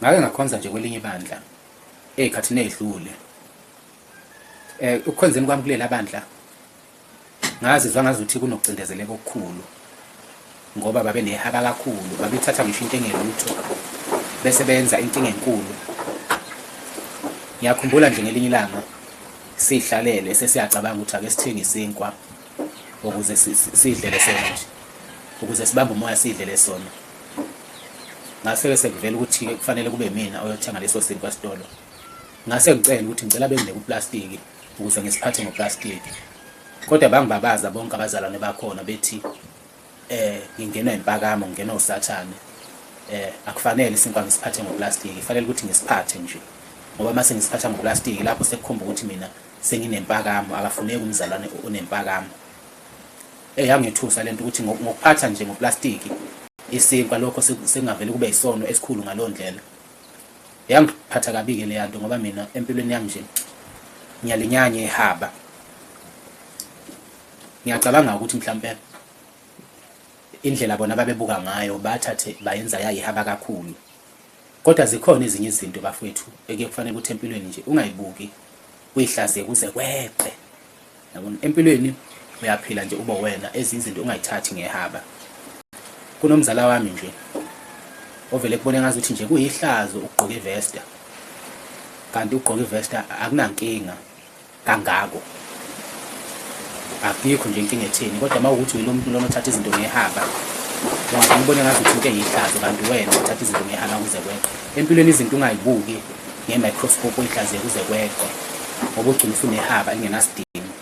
ngake ngakhonza nje kwelinye ibandla ey'khathini ey'dlule um ukukhonzeni kwami kulela bandla ngazizwa ngazuthi kunokucindezeleka okukhulu ngoba babe nehaba kakhulu babethatha ngisho into engelutho bese benza inkinga enkulu ngiyakhumbula nje ngelinye ilanga sihlalele sesiyacabanga ukuthi ake sithenge isinkwa ukuze sidlele sona nje ukuze sibambe umoya sidlele sona ngase-ke sekuvela ukuthi kufanele kube mina oyothenga leso sinkwa sitolo ngase ngicela ukuthi ngicela benginike uplastiki ukuze ngisiphathe ngoplastiki kodwa bangibabaza bonke abazalwane bakhona bethi eh ngingenwa impakamo ngingenwa usathane eh akufanele isinkwa ngisiphathe ngoplastiki kufanele ukuthi ngisiphathe nje ngoba mase ngisiphatha ngoplastiki lapho sekukhomba ukuthi mina senginempakamo akafuneki umzalwane onempakamo eh yangethusa lento ukuthi ngokuphatha nje ngoplastiki isinkwa lokho singavele kube isono esikhulu ngaloo ndlela yangiphatha kabi-ke leya nto ngoba mina empilweni yami nje ngiyalinyanya ihaba ngiyacabanga ukuthi mhlawumpe indlela bona babebuka ngayo bathathe bayenza yayihaba kakhulu Kodwa zikhona ezinye izinto bafwethu ekuye kufanele ukuthi empilweni nje ungayibuki uyihlaziye kuze kweqe. Yabona empilweni uyaphila nje ube wena ezinye izinto ungayithathi ngehaba. Kunomzala wami nje ovele kubone ngazi ukuthi nje kuyihlazo ukugqoka ivesta. Kanti ukugqoka ivesta akunankinga. kangako akikho nje inkinga etheni kodwa uma ukuthi uyilo muntu lona othatha izinto ngehaba ngoba ngibone ngathi uthi into eyihlazo kanti wena uthatha izinto ngehaba kuze kweqe empilweni izinto ungayibuki nge-microscope uyihlaziye kuze kweqe ngoba ugcina usunehaba lingenasidingo